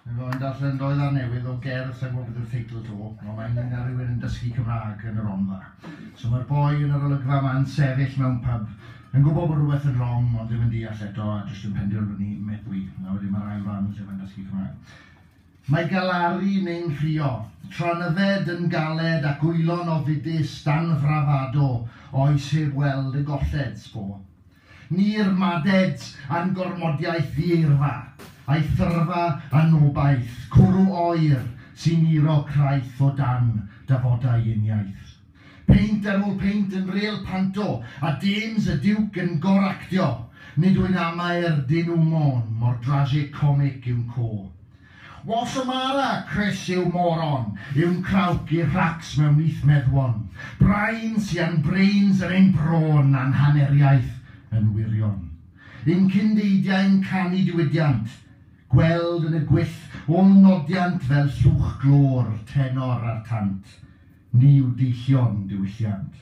Fe o'n darllen roedd ar newydd o gerdd sa'n gwybod beth yw'r teitl to, ond mae'n un ar rywun yn dysgu Cymraeg yn yr Rhondda. So mae'r boi yn yr olygfa ma'n sefyll mewn pub yn gwybod bod rhywbeth yn wrong ond ddim yn deall eto a jyst yn penderfynu meddwi. A wedyn mae'r ail ran lle mae'n dysgu Cymraeg. Mae galaru neu'n nghrio, tra'n yfed yn galed ac wylo'n ofidus dan frafado oes heb weld y golled, sbo. Ni'r Madeds a'n gormodiaeth ddieirfa, a'i thyrfa anobaith, cwrw oer sy'n uro craith o dan dafodau uniaith. Peint ar ôl peint yn ril panto, a James y Diwc yn gor-actio, nid wy'n amaer dyn nhw môn, mor dragig comic yw'n co. Wal Samara, Crys yw moron, yw'n crawcgu rhacs mewn nyth meddwon, brain sian brains yn ein brôn a'n haneriaeth yn wirion. Yn cyn deidiau'n canu diwydiant, gweld yn y gwyll ôl nodiant fel llwch glô'r tenor a'r tant, ni yw deillion diwylliant.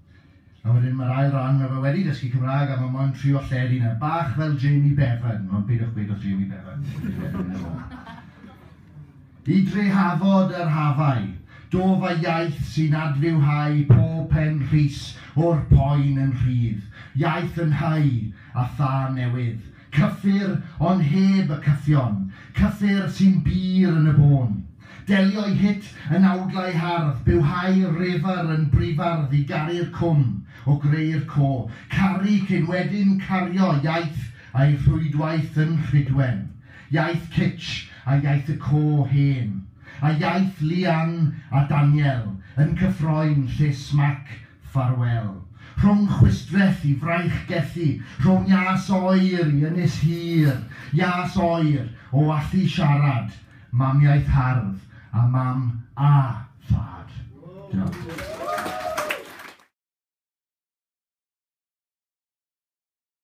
A wedyn mae'r ail ran, mae fe wedi dysgu Cymraeg a mae moyn trio lled yna. Bach fel Jamie Bevan, ond peidiwch gweud wrth Jamie Bevan. I drehafod yr hafau, do fa iaith sy'n adfywhau pob pen rhys o'r poen yn rhydd, iaith yn hau a thân newydd, Cyffur, ond heb y cyffion. Cyffur sy'n bur yn y bôn. Delioi hit yn awdlau hardd, byw hau refr yn brifardd i garu'r cwm, o greu'r co. Caru cyn wedyn cario, iaith a'i rhwydwaith yn rhydwen. Iaith Kitch a iaith y co hen. A iaith Leanne a Daniel yn cyffroi'n llys Mac Ffarwel. Rhwng chwistrell i fraich gelli, rhwng ias oer i ynys hir, ias oer o allu siarad mamiaith hardd a mam a thad. Diolch.